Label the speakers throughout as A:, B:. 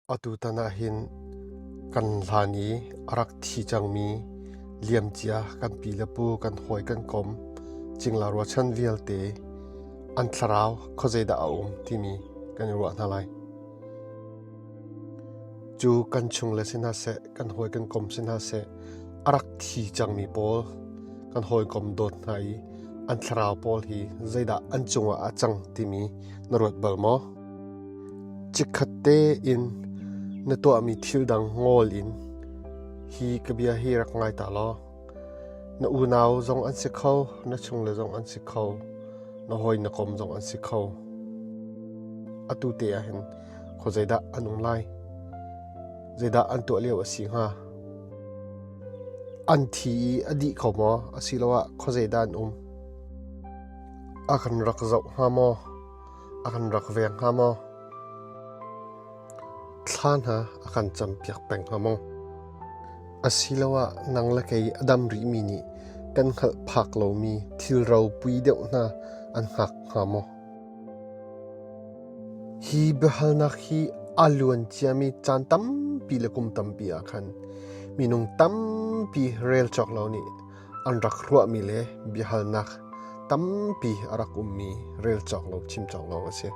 A: Atutan ah hin kan hlan i a rak thi cangmi liamcia kan pi le pu kan hawi kan kom cingla ruachan vialte an thlarau khuazeidah a um timi kan i ruah hna lai. Cu kan chung le si hna seh, kan hawi kan kom si hna seh, a rak thi cangmi pawl kan hawi kom dawt hna i an thlarau pawl hi zeidah an cungah a cang timi na ruat bal maw? Chikkhat tein na tuahmi thil dang ngol in hi ka bia hi rak ngai ta law na unau zong an si kho, na chungle zong an si kho, na hawi na kom zong an si kho. Atu te ah hin kho zeidah an um lai? Zeidah an tuah lio a si hnga? An thi i a dih kho maw asiloah kho zeidah an um? A kan rak zoh hnga maw? a kan rak veng hnga maw? Thla hna a kan campiak peng hnga maw? Asiloah nang le kei a dam rihmi nih kan hngalh phak lomi thil ropui deuh hna an hngak hnga maw? Hi biahalnak hi a luan ciami caan tampi le kum tampi ah khan minung tampi rel cawk lo nih an rak ruahmi le biahalnak tampi a rak ummi rel cawk lo, chim cawk lo a si.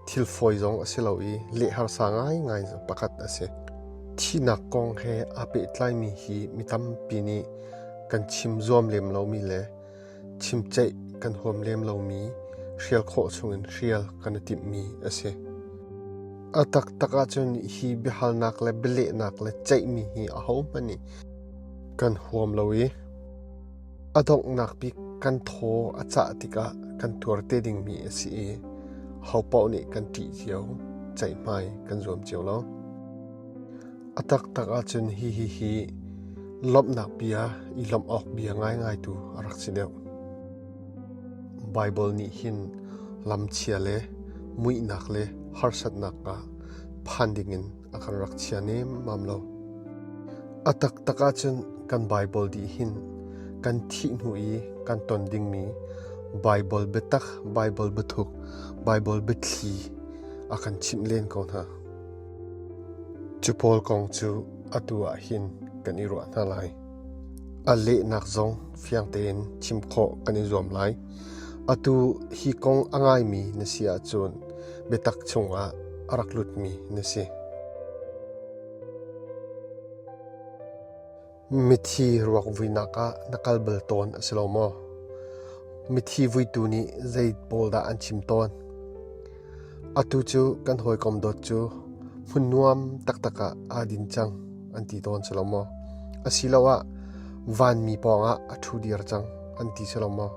A: Thil fawi zong a si lo i lehharsa ngaingai pakhat a si. Thihnak kong he aa pehtlaimi hi mi tampi nih kan chim zuam lem lomi le chimceih kan huam lem lomi, hrial khawh chungin hrial kan i timhmi a si. A taktak ahcun hi biahalnak le bialehnak le ceihmi hi ahohmanh nih kan huam lo i a donghnak bik kan thaw a cah tikah kan tuar te dingmi a si i hopaoh nih kan ṭih cio, ceihmai kan zuam cio lo. A taktak ahcun hihi hi lawmhnak bia i lawmh awk bia ngaingaitu a rak si deuh. Baibal nih hin lamchia le muihnak le harsatnak ah phan dingin a kan rak chia nemam lo. A taktak ahcun kan Baibal dih hin kan thih hnu i kan ton dingmi Baibal biatak, Baibal biathuk, Baibal biathli a kan chimh len ko hna. Cu pawl kong cu atu ah hin kan i ruah hna lai. A lehnak zong fiang tein chim khawh kan i zuam lai. Atu hi kong a ngaimi na si ahcun biatak chungah a rak lutmi na si. Mithi ruak vuinak ah na kal bal tawn a si lo maw? Mithi vuitu nih zei pawl dah an chim tawn? Atu cu kan hawikom dawt cu hmun nuam taktak ah aa din cang an ti tawn si lo maw? Asiloah vanmi pawngah a ṭhu dir cang an ti si lo maw?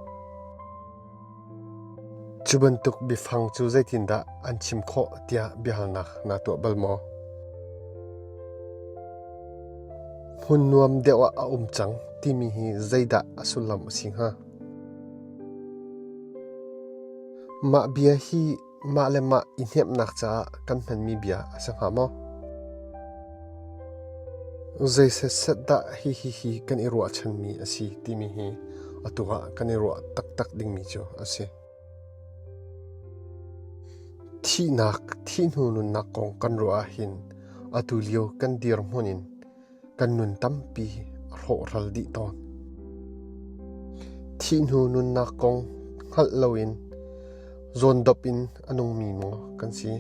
A: Cu bantuk biafang cu zeitindah an chim khawh tiah biahalnak naa tuah bal maw? Hmun nuam deuh ah a um cang timi hi zeidah a sullam a si hnga? Mah bia hi Mahle mah i hnemhnak caah kan hmanmi bia a si hnga maw? Zei setset dah hihihi kan i ruahchanmi a si timi hi atu ah kan i ruah taktak dingmi cu a si. Thihnak, thihnu nunnak kong kan ruah ah hin atu lio kan dirhmun in kan nun tampi a hlawhral dih tawn. Thihnu nunnak kong hngalh loin zawndop in a nungmi maw kan si.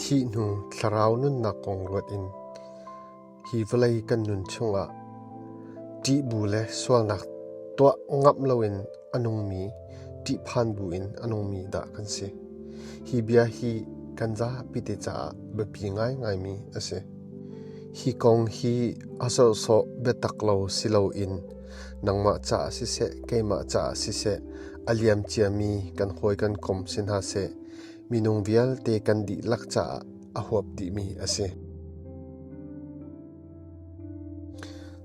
A: Thihnu thlarau nunnak kong ruat in hi vawlei kan nun chungah ṭihbu le sualnak tuah ngap loin a nungmi ṭihphan bu in a nungmi dah kan si. Hi bia hi kan zapi te caah biapi ngaingaimi a si. Hi kong hi a sawhsawh biatak lo si loin nangmah caah siseh keimah caah siseh a liam ciami kan hawi kan kom si hna seh minung vialte kan dihlak caah a huap dihmi a si.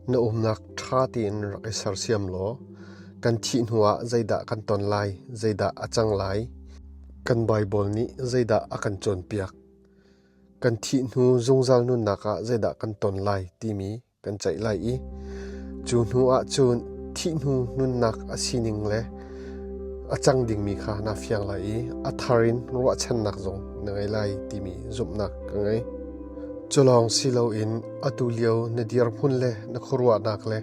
A: Na umnak ṭha tein rak i sersiam law kan thih hnuah zeidah kan ton lai, zeidah a cang lai, kan Baibal nih zeidah a kan cawnpiak. kan thih hnu zungzal nunnak ah zeidah kan ton lai timi kan ceih lai i cu hnu ah cun thih hnu nunnak a sining le a cang dingmi kha na fiang lai i a thar in ruahchannak zong na ngei lai timi zumhnak ka ngei. Culawng si loin atu lio na dirhmun le na khuaruahnak le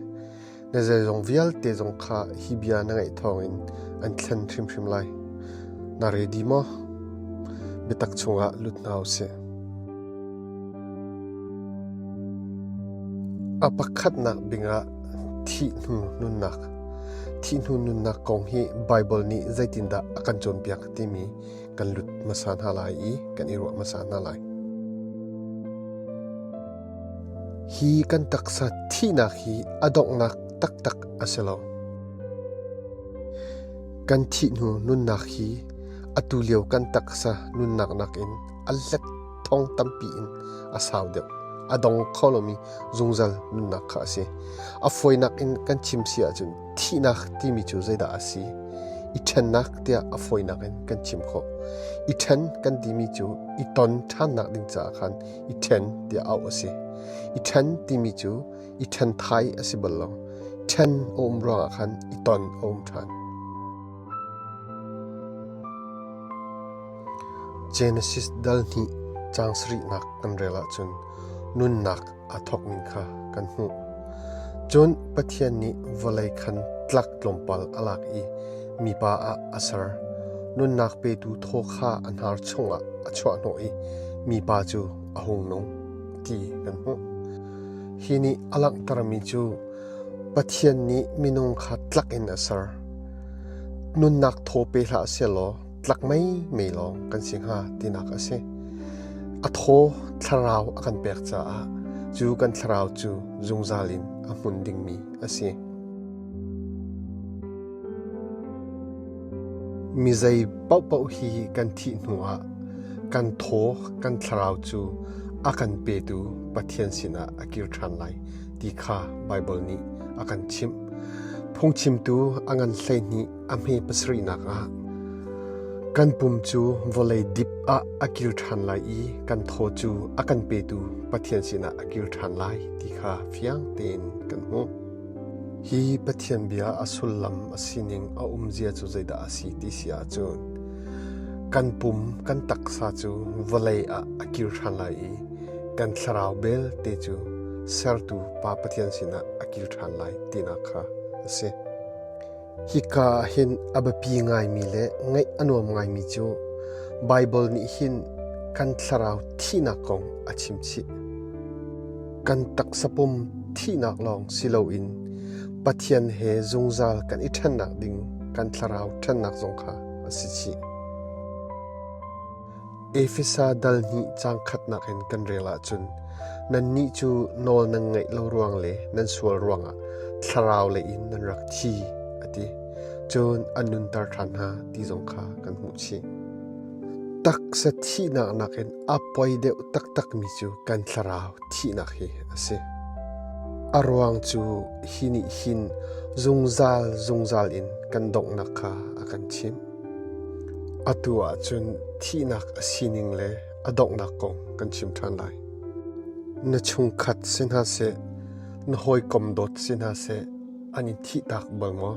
A: na zeizong vialte zong kha hi bia na ngaih thawngin an thlen hrimhrim lai. Na redi maw? Biatak chungah lut hna u sih. A pakhatnak bingah thih hnu nunnak. Thih hnu nunnak kong hi Bible nih zeitindah a kan cawnpiak timi kan lut hmasa hna lai i kan i ruah hmasa hna lai. Hi kan taksa thihnak hi a donghnak taktak a si lo. Kan thih hnu nunnak hi atu lio kan taksa nunnak nakin a let thong tampi in a sau deuh a dong kho lomi zungzal nunnak kha a si a foinak in kan chim si ahcun Thihnak timi cu zeidah a si? I ṭhennak tiah a fawinak in kan chim khawh. I ṭhen kan timi cu i ton ṭhannak ding caah khan i ṭhen tiah auh a si. I ṭhen timi cu i ṭhenthai a si bal lo. Ṭhen a um ruangah khan i ton a um ṭhan. Genesis dal hnih caang sarihnak kan rel ahcun nunnak a thawkmi kha kan hmuh. Cun Pathian nih vawlei khan tlak tlawmpal a lak i mipa ah a ser. Nunnak petu thaw kha a hnar chungah a chuahhnawh i mipa cu a hung nung ti kan hmuh. Hi nih a langhtermi cu Pathian nih minung kha tlak in a ser. Nunnak thaw pe hlah sehlaw tlak mei mei lawng kan si hnga tinak a si. A thaw thlarau a kan pek caah cu kan thlarau cu zungzal in a hmun dingmi a si. Mi zei pauh hi kan thih hnuah kan thaw kan thlarau cu a kan petu Pathian sinah a kir ṭhan lai ti kha Baibal nih a kan chimh. Phungchimtu a ngan hleihnih a hme pasarihnak ah kan pum cu vawlei dip ah a kil ṭhan lai i kan thaw cu a kan petu Pathian sinah a kil ṭhan lai ti kha fiang tein kan hmuh. Hi Pathian bia a sullam a sining a umzia cu zeidah a si ti si ahcun kan pum kan taksa cu vawlei ah a kil ṭhan lai i kan thlarau belte cu sertu Pa Pathian sinah a kil ṭhan lai tinak kha a si. Hika ah hin a biapi ngaimi le ngaih a nuam ngaimi cu Baibal nih hin kan thlarau thihnak kong a chimchih. Kan taksa pum thihnak lawng si loin Pathian he zungzal kan i ṭhennak ding kan thlarau ṭhennak zong kha a si chih. Efesa dal hnih caang khatnak in kan rel ahcun nannih cu nawl nan ngaih lo ruang le nan sual ruangah thlarau lei in nan rak thi a ti. Cun an nunter ṭhan hna ti zong kha kan hmuh chih. Taksa thihnak nakin a poi deuh taktakmi cu kan thlarau thihnak hi a si. A ruang cu hi nih hin zungzal zungzal in kan donghnak kha a kan chimh. Atu ahcun thihnak a sining le a donghnak kong kan chim ṭhan lai. Na chungkhat si hna seh, na hawikom dawt si hna seh, an i thihtak bang maw?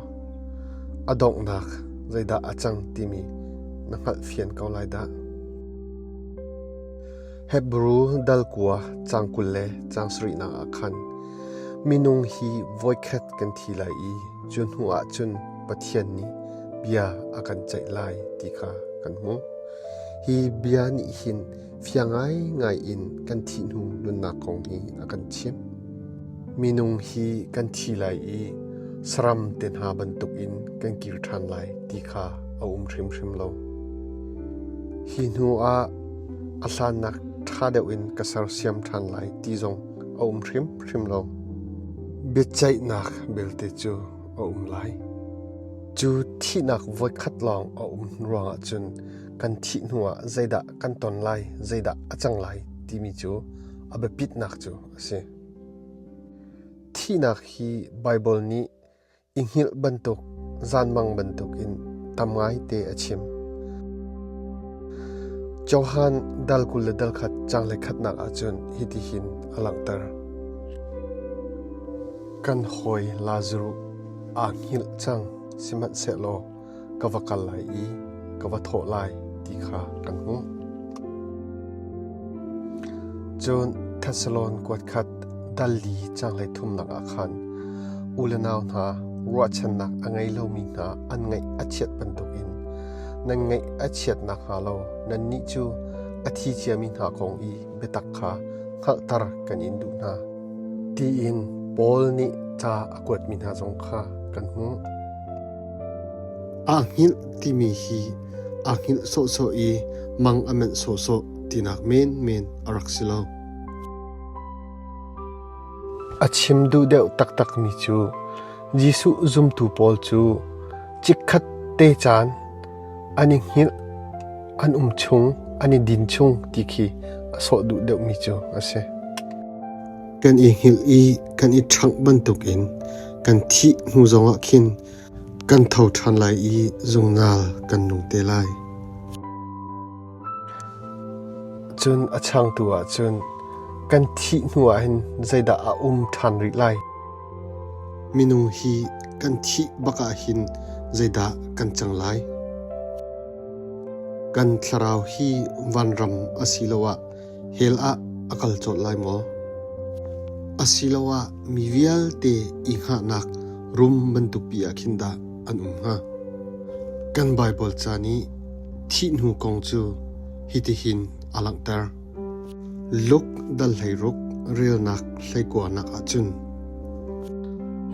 A: A donghnak zeidah a cang timi na hngalh fian ko lai dah. Hebrew dalkua cang kul le cang sarihnak ah khan minung hi voikhat kan thi lai i cu hnu ah cun Pathian nih bia a kan ceih lai ti kha kan hmuh. Hi bia nih hin fiang ngaingai in kan thih hnu nunnak kong hi a kan chimh. Minung hi kan thi lai i saram te hna bantuk in kan kir ṭhan lai ti kha a um hrimhrim lo. Hi hnu ah a hlannak ṭha deuh in ka sersiam ṭhan lai ti zong a um hrimhrim lo. Biaceihnak belte cu a um lai. Cu thihnak voikhat lawng a um ruangah cun kan thih hnuah zeidah kan ton lai, zeidah a cang lai timi cu a biapitnak cu a si. Thihnak hi Baibal nih i hngilh bantuk, zanmang bantukin tam ngaite a chim. Johan dal kul le dal khat chang le khatnak ahcun hiti hin a langhter. Kan hawi Lazaruh aa hngilh cang, sihmanhsehlaw ka va kal lai i ka va thawh lai ti kha kan hmuh. Cun Thessalon kuat khat dali changlei thumnak ah khan u le nau hna ruahchannak a ngei lomi hna an ngaih a chiat bantukin nan ngaih a chiat nakhnga lo nannih cu a thi ciami hna kong i biatak kha hngalhter kan in duh hna. Tiin Paul nih ca a kuatmi hna zong kha kan hmuh. Aa hngilh timi hi aa hngilh sawhsawh i mang a manh sawhsawh tinak menmen a rak si lo. A chim duh deuh taktakmi cu Jesuh zumtu pawl cu chikkhat te caan an i hngilh, an um chung, an i din chung ti khi a sawh duh deuhmi cu a si. Kan i hngilh i kan i ṭhangh bantukin kan thih hnu zongah khin kan tho ṭhan lai i zungzal kan nung te lai. Cun a changtu ah cun kan thih hnuah hin zeidah a um ṭhan rih lai? Minung hi kan thih bak ahhin zeidah kan cang lai? Kan thlarau hi vanram asiloah hell ah a kal cawlh lai maw? Asiloah mi vialte i hngahnak rum bantupi ah khin dah an um hnga? Kan Baibal ca nih thih hnu kong cu hitihin a langhter. Luk dal hleiruk relnak hleikuanak ahcun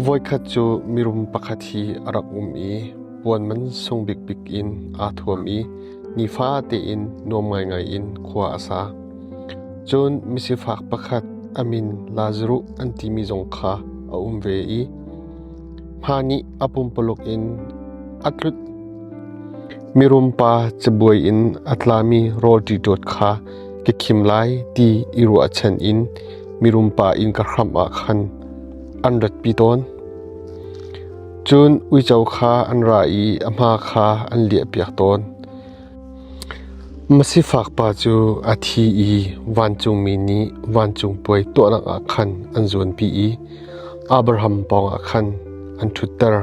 A: voikhat cu mirum pakhat hi a rak um i puanman sung bikbik in aa thuam i nifa tein nuam ngaingai in khua a sa. Cun misifak pakhat a min Lazaruh an timi zong kha a um ve i Hma nih a pumpaluk in a tlut. Mirum pa cabuai in a tlami rawlṭi ṭawt kha ka khim lai ti i ruahchan in mirum pa inn ka hram ah khan an ratpi tawn. Cun uico kha an ra i a hma kha an liahpiak tawn. Masifak pa cu a thi i vancungmi nih vancung puai tuahnak ah khan an zuanpi i Abraham pawngah khan an ṭhutter.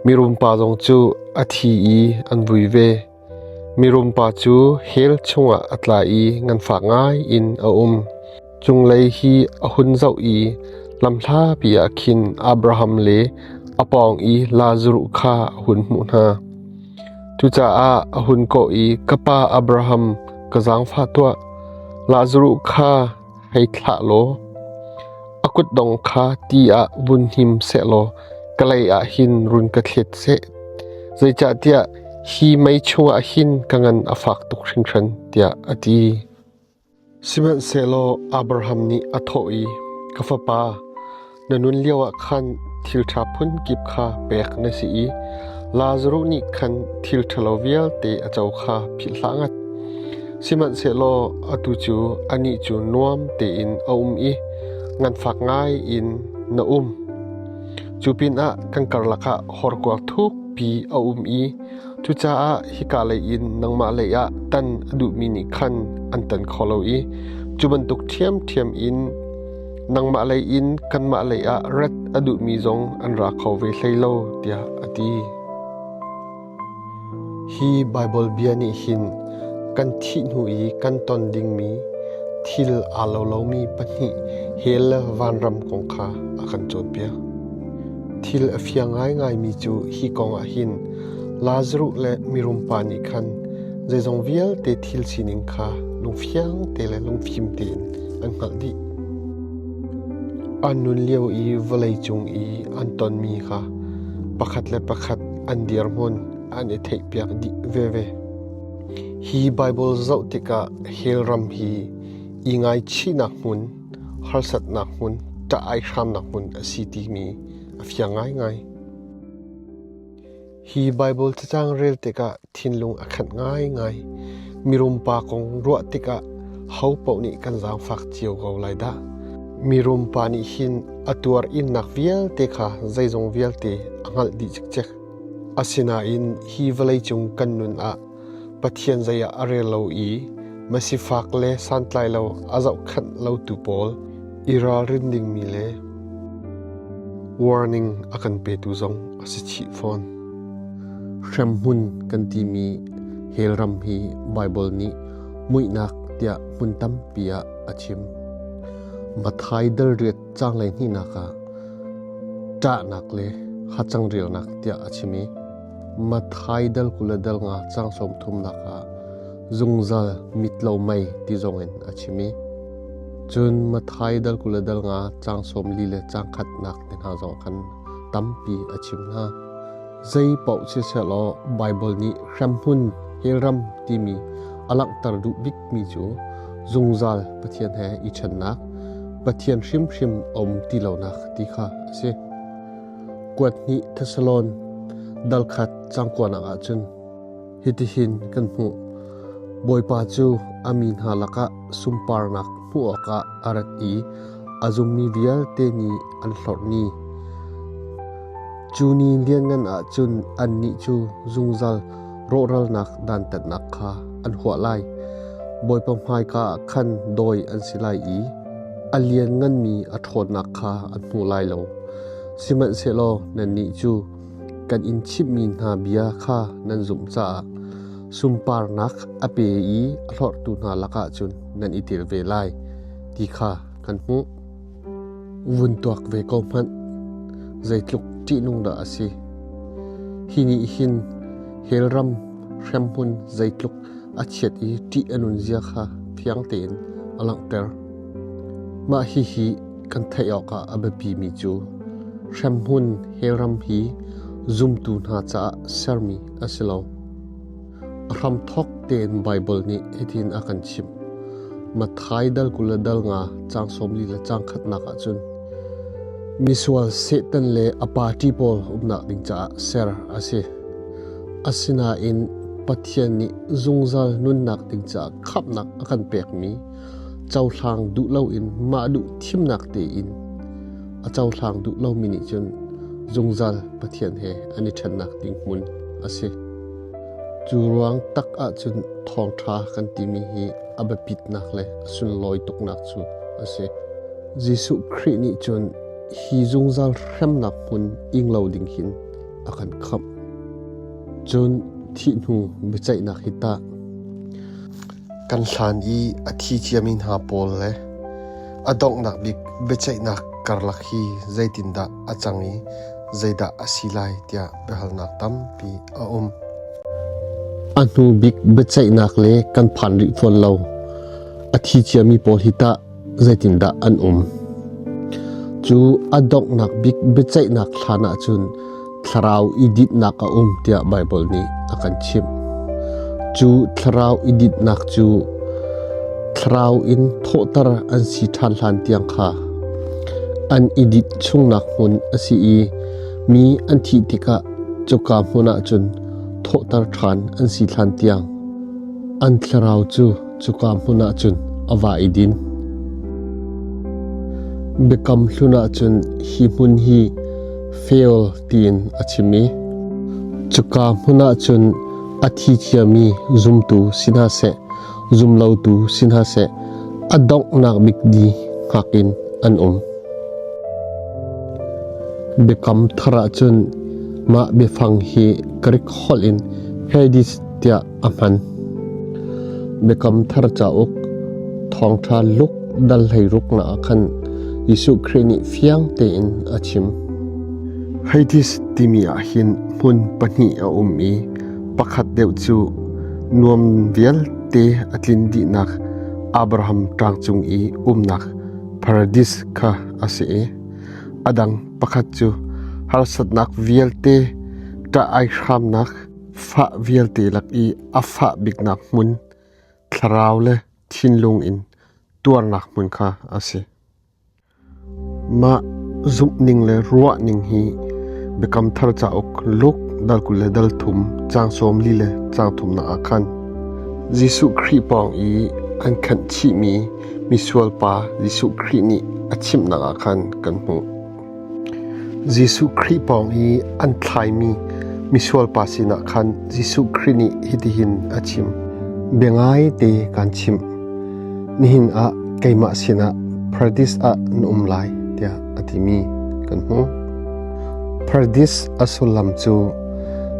A: Mirum pa zong cu a thi i an vui ve. Mirum pa cu hell chungah a tla i nganfak ngai in a um. Cunglei hi a hun zoh i lamhlapi ah khin Abraham le a pawng i Lazaruh kha a hun hmuh hna. Cucaah a hun kawh i, Ka pa Abraham, ka zaangfah tuah, Lazaruh kha hei thlah law, a kutdong kha ti ah vun him seh law, ka lei ah hin run ka thlet seh. Zeicahtiah hi mei chungah hin ka ngan a fak tuk hringhran, tiah a ti. Sihmanhsehlaw Abraham nih a thawh i, Ka fapa, na nun lioah khan thilṭha phunkip kha pek na si i Lazaruh nih khan thil ṭhalo vialte a co kha philhhlah ngat. Sihmanhsehlaw atu cu anih cu nuam tein a um i nganfak ngai in na um. Cu pinah kan karlak ah horkuang thukpi a um i Cucaah hika lei in nangmah lei ah tan a duhmi nih khan an tan kho lo i cu bantuk ṭhiamṭhiam in nangmah lei in kanmah lei ah rat a duhmi zong an ra kho ve hlei lo, tiah a ti. Hi Baibal bia nih hin kan thih hnu i kan ton dingmi thil aa lo lomi pahnih he le vanram kong kha a kan cawnpiak. Thil a fiang ngaingaimi cu hi kongah hin Lazaruh le mirum pa nih khan zeizong vialte thil sining kha lungfiang te le lungfim tein an hngalh dih. An nun lio i vawlei cung i an tonmi kha pakhat le pakhat an dirhmun an i theihpiak dih veve. Hi Bible zoh tikah hell ram hi i ngaichihnak hmun harsatnak hmun, ṭah ai hramnak hmun a si timi a fiang ngaingai. Hi Baibal cacang rel tikah thinlung a khat ngaingai. Mirum pa kong ruah tikah hopoh nih kan zaangfak cio ko lai dah. Mirum pa nih hin a tuar innak vialte kha zeizong vialte a hngalh dih cikcek. Asinain hi vawleicung kan nun ah Pathian zei ah a rel lo i masifak le santlai lo a zohkhanh lotu pawl i ralrin dingmi le warning a kan petu zong a si chih fawn. Hremhmun kan timi hell ram hi Baibal nih muihnak tiah hmun tampi ah a chim. Mathai dalriat changlei hnihnak ah ṭahnak le hacang rialnak tiah a chim i Mathaidal kul a dal nga cang sawmthumnak ah zungzal mitlo mei ti zongin a chim i cun Mathaidal kul a dal nga cang sawmli le cang khatnak te hna zong khan tampi a chim hna. Zei paoh siselaw Baibal nih hremhmun helram timi a langhter duh bikmi cu zungzal Pathian he i ṭhennak, Pathian hrimhrim a um ti lonak ti kha a si. kuat hnih Thesalon dalkhat cangkuanak ah cun hitihin kan hmuh Bawipa cu a mi hna lakah sunparnak hmuh awkah a rat i a zummi vialte nih an hlorh ni cu ni lianngan ah cun annih cu zungzal rawhralnak dantatnak kha an huah lai. Bawipa hmaika ah khan dawi an si lai i a liannganmi a ṭhawnnak kha an hmu lai lo. Sihmanhsehlaw nannih cu kan in chimhmi hna bia kha nan zumh caah sunparnak a pe i a hlorhtu hna lakah cun nan i tel ve lai ti kha kan hmuh. vun tuak ve ko hmanh. Zeitluk ṭihnung dah a si. Hi nih hin helram hremhmun zeitluk a chiat i ṭih a nunzia kha fiang tein a langhter. Mah hihi kan theih awkah a biapimi cu hremhmun helram hi zumtu hna caah sermi a si lo. Hramthawk tein Baibal nih hitin a kan chimh. Matthai dal kul le dal nga caang sawmli le caang khatnak ah cun misual Satan le a party pawl umnak ding caah ser a si. Asinain Pathian nih zungzal nunnak ding caah khamnak a kan pekmi cohlang duh loin mah duh thimnak tein a cohlang duh lomi nih cun zungzal Pathian he an i ṭhennak ding hmun a si. Cu ruang tak ahcun thawngṭha kan timi hi a biapitnak le a sunlawi tuknak cu a si. Jesuh Khrih nih cun hi zungzal hremnak hmun ing lo ding hin a kan khamh. Cun thih hnu biaceihnak hi tah? Kan hlan i a thi ciami hna pawl le a donghnak bik biaceihnak karlak hi zeitindah a cang i zeidah a si lai tiah biahalnak tampi a um. A hnu bik biaceihnak le kan phan rih fawn lo. A thi ciami pawl hi tah zeitindah an um? Cu a donghnak bik biaceihnak hlan ahcun thlarau i dinnak a um tiah Baibal nih a kan chimh. Cu thlarau i dinnak cu thlarau in thawhter an si ṭhan hlan tiang kha an i dit chungnak hmun a si i mi an thih tikah cuka hmun ahcun thawhter ṭhan an si hlan tiang an thlarau cu Cuka hmun ah cun a va i din. Biakam hlun ah cun hi hmun hi Fel tiin a chim i cuka hmun ah cun a thi thiami zumtu si hna seh zumlotu si hna seh a donghnak bik di ngak in an um. Biakam thar ah cun mah biafang hi Greek holh in Hades tiah a hman. Mikam thar cauk thawngṭha luk dal hleiruk na khan Jesuh Khrih nih fiang tein a chim. Haitis timi ah hin hmun pahnih a um i pakhat deuh cu nuam vialte a tlin dihnak Abraham ṭangcung i umnak paradis kha a si i a dang pakhat cu harsatnak vialte ṭah ai hramnak Fah vialte lak i a fah biknak hmun, thlarau le thinlung in tuarnak hmun kha a si. Mah zumhning le ruahning hi Biakam Thar cauk Luk dal kul le dal thum caang sawm li le caang thum na ah khan Jesuh Khrih pawng i an khanh chihmi misual pa Jesuh Khrih nih a chimhnak ah khan kan hmuh. Jesuh Khrih pawng i an thlaimi misual pa sinah khan Jesuh Khrih nih hitihin a chim: Biangai te kaan chimh, nihin ah keimah sinah Paradis ah na um lai, tiah a timi kan hmu. Paradis a sullam cu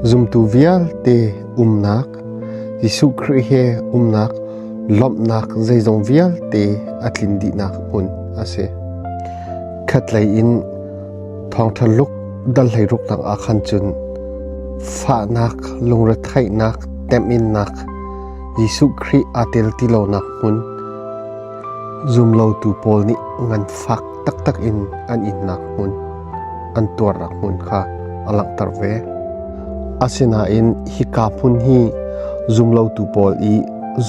A: zumtu vialte umnak Jesuh Khrih he umnak lawmhnak zeizong vialte a tlin dihnak hmun a si. Khatlei in thawngṭha luk dalhlei ruknak ah khan cun fahnak lungretheihnak teminnak Jesuh Khrih aa tel ti lonak hmun zumlotu pawl nih ngan fak taktak in an innak hmun an tuarnak hmun kha a langhter ve. Asinain hika hmun hi zumlotu pawl i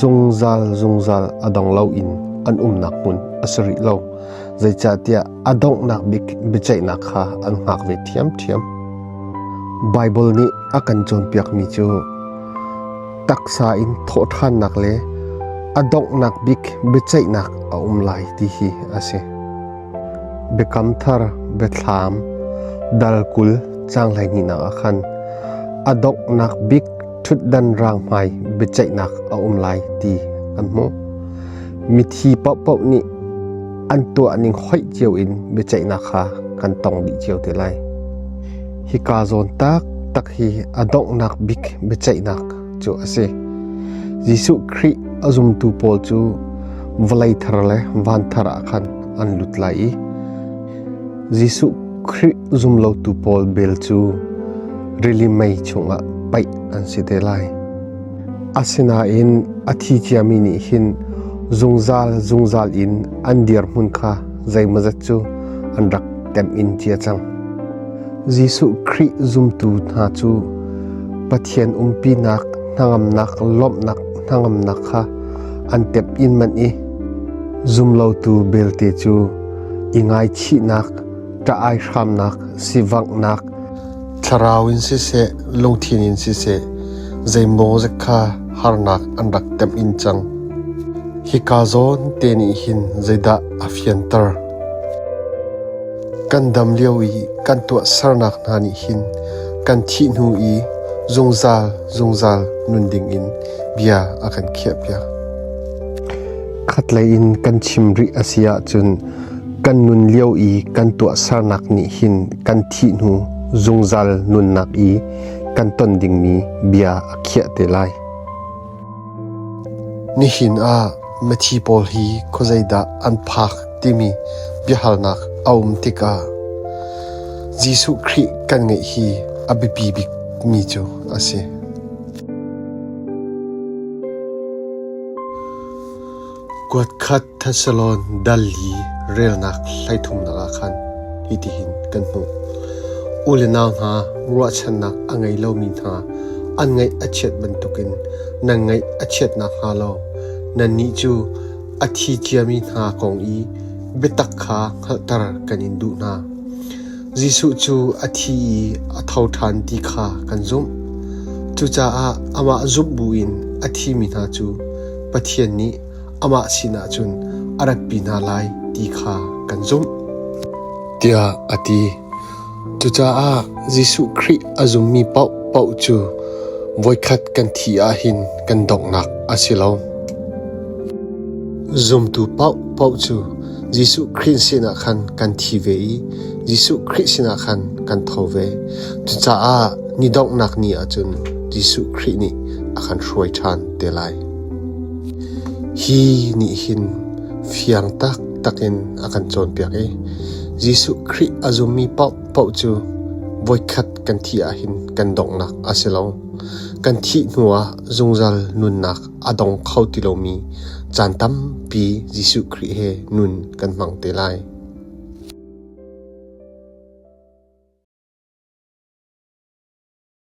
A: zungzal zungzal a dong lo in an umnak hmun a si rih lo. Zeicahtiah a donghnak bik biaceihnak kha an hngak ve ṭhiamṭhiam. Baibal nih a kan cawnpiakmi cu taksa in thawhṭhannak le a donghnak bik biaceihnak a um lai ti hi a si. Biakam Thar biathlam dal kul caang hleihnihnak ah khan a donghnak bik ṭhutdan rang hmai biaceihnak a um lai ti kan hmuh. Mithi paohpaoh nih an tuahning hoih cio in biaceihnak kha kan tong dih cio te lai. Hika zawn tak tak hi a donghnak bik biaceihnak cu a si. Jesuh Khrih a zumtu pawl cu vawlei thar le van thar ah khan an lut lai i Jesuh Khrih zumlotu pawl vel cu rili mei chungah paih an si te lai. Asinain a thi ciami nih hin zungzal zungzal in an dirhmun kha zeimawzat cu an rak temh in cia cang. Jesuh Khrih zumtu hna cu Pathian umpinak hnangamnak lawmhnak hnangamnak kha an temh in manh i zumlotu belte cu i ngaichihnak ṭah-ai hramnak sivanghnak Thlarau in siseh, lungthin in siseh, zeimaw zet kha harnak an rak temh in cang. Hika zawn te nih hin zeidah a fianter? Kan dam lio i kan tuahsernak hna nih hin kan thih hnu i zungzal zungzal nun ding in bia a kan khiahpiak. Khatlei in kan chim rih a si ahcun kan nun lio i kan tuahsernak nih hin kan thih hnu zungzal nunnak i kan ton dingmi bia a khiah te lai. Nihin ah mithi pawl hi khawzeidah an phak timi biahalnak a um tikah Jesuh Khrih kan ngeih hi a biapi bikmi cu a si. Kuatkhat Thessalon dal i relnak hleithumnak ah khan hitihin kan hmuh: U le nau hna, ruahchannak a ngei lomi hna, an ngaih a chiat bantukin nan ngaih a chiat nakhnga law nannih cu a thi ciami hna kong i biatak kha hngalhter kan in duh hna. Jesuh cu a thi i a tho ṭhan ti kha kan zumh. Cucaah amah zumh buin a thimi hna cu Pathian nih amah sinah cun a ratpi hna lai ti kha kan zumh, tiah a ti. Cucaah Jesuh Khrih a zummi paohpaoh cu voikhat kan thih ahhin kan donghnak a si lo. Zumtu paohpaoh cu Jesuh Khrih sinah khan kan thi ve i Jesuh Khrih sinah khan kan tho ve. Cucaah ni donghnak ni ah cun Jesuh Khrih nih a kan hruai ṭhan te lai. Hi nih hin fiang taktak in a kan cawnpiak i Jesuh Khrih a zummi paohpaoh cu voikhat kan thi ahhin kan donghnak a si lo. Kan thih hnuah zungzal nunnak a dong kho ti lomi caan tampi Jesuh Khrih he nun kan hmang te lai.